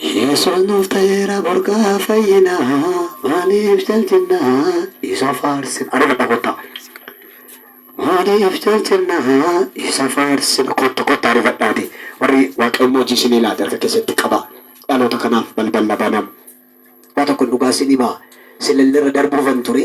Yesuus nuuf ta'eera burqaa fayyinaa maaliif jaljinnaa isa faarsina adaba dhagottaa maaliif jaljinnaa isa faarsina kottu kottu arifadhaati warri waaqayyoon hojii isinii laate harka keessatti qaba dhaloota kanaaf balballa banam waa tokkon dhugaa isin himaa silillerra darbuufan ture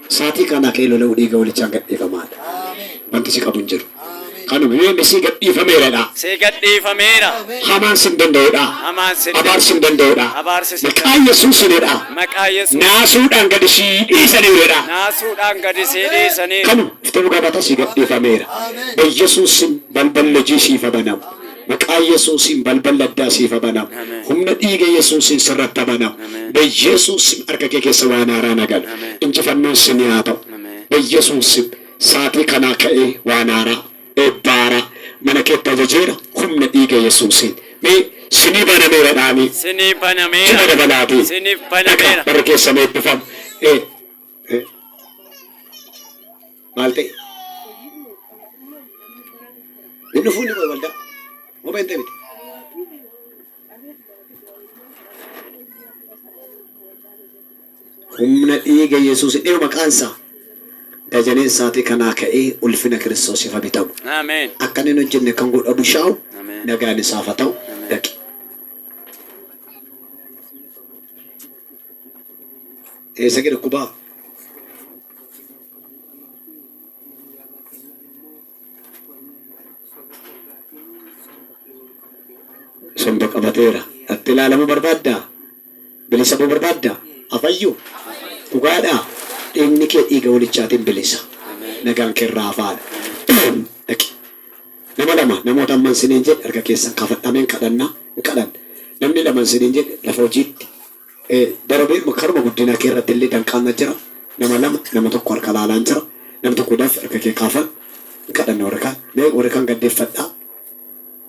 Saatii kaanaa ka'ee lola'uu dhiiga walichaan gadhiifamaa dha. Wanti si qabu hin jiru. Kanuma. Yoo inni sii gadhiifameera dha. Sii gadhiifameera. Hamaan sin danda'u dha. Hamaan sin. Abaarsi hin danda'u dha. Abaarsi sin. Maqaa Yesuusiin dha. Maqaa Yesuusiin. Naasuudhaan gadi sii dhiisaniiru dha. Naasuudhaan gadi sii dhiisaniiru. Kanuma. Dhuftee dhugaa baataa sii gadhiifameera. Ba'Yesuusiin balballi hojii siif ha banamu. Maqaa yesuusiin balballi addaa siif ha banamu. Amen. Humna dhiiga yesuusiin sirratti ha banamu. Amen. Be yesuus sim harka kee keessa waan haaraa na gala. Amen. Injifannoon sinii haa ta'u. Amen. Be yesuus sim saatii kanaa ka'ee waan haaraa, eebba haaraa mana keetti ajajeera humna dhiiga yesuusiin. Mee sinii banameera dhaamii. Sinii banameera. Jila dabalaatii. Sinif Dhaqa banameera. barri keessan eebbifamu. E. E. Maal ta'e? Hin dhufuu inni waldaa. Moo beenxee miti. Humna dhiiga Yesuus dhiyoo maqaan isaa dajaneen isaatii kanaa ka'ee ulfina Kiristoosiif haa bitamu. Ameen. Akka inni hin hojjenne kan godhu abushaa'u Ameen. nagaan isaaf haa ta'u Ameen. dhaqi. Eessa gadi kubaa? Somba qabateera. Atti ilaalamuu barbaaddaa? Bilisa ba'uu barbaaddaa? Afayyuu? Dhugaadhaa? Dhiigni kee dhiiga walichaatiin bilisa. Nagaan kee irraa hafaadha. Boom! Dhaqi. Nama lama namoota amman siniin jedhe harka keessan kafadha ameen kadhanna hin kadhanna namni laman siniin jedhe lafa hojiitti Darabeema karuma guddina kee irratti illee danqaan na jira. Nama lama, nama tokko harka laalaan jira. Nam tokko daf harka kee kaafan hin kadhanne warri kaan. Mee warri kaan gad deffadhaa.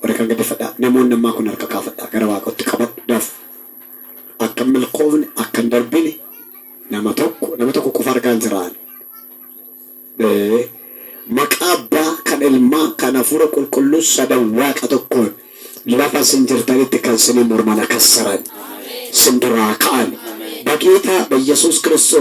Warri kaan gad deffadhaa. Namoonni ammaa kun harka kaafadhaa. Gara Waaqootti qabadhu daf. Akka hin milkoofne, akka hin darbine nama tokko, nama tokko qofa argaan jira ani. Ee, maqaa Abbaa, kan Ilmaa, kan Hafuura Qulqulluu sadan Waaqa tokkoon lafa isin jirtanitti kan isiniin morman akka saran, isin duraa ka'an, baqiitaa, baiyesuus Kiristoos.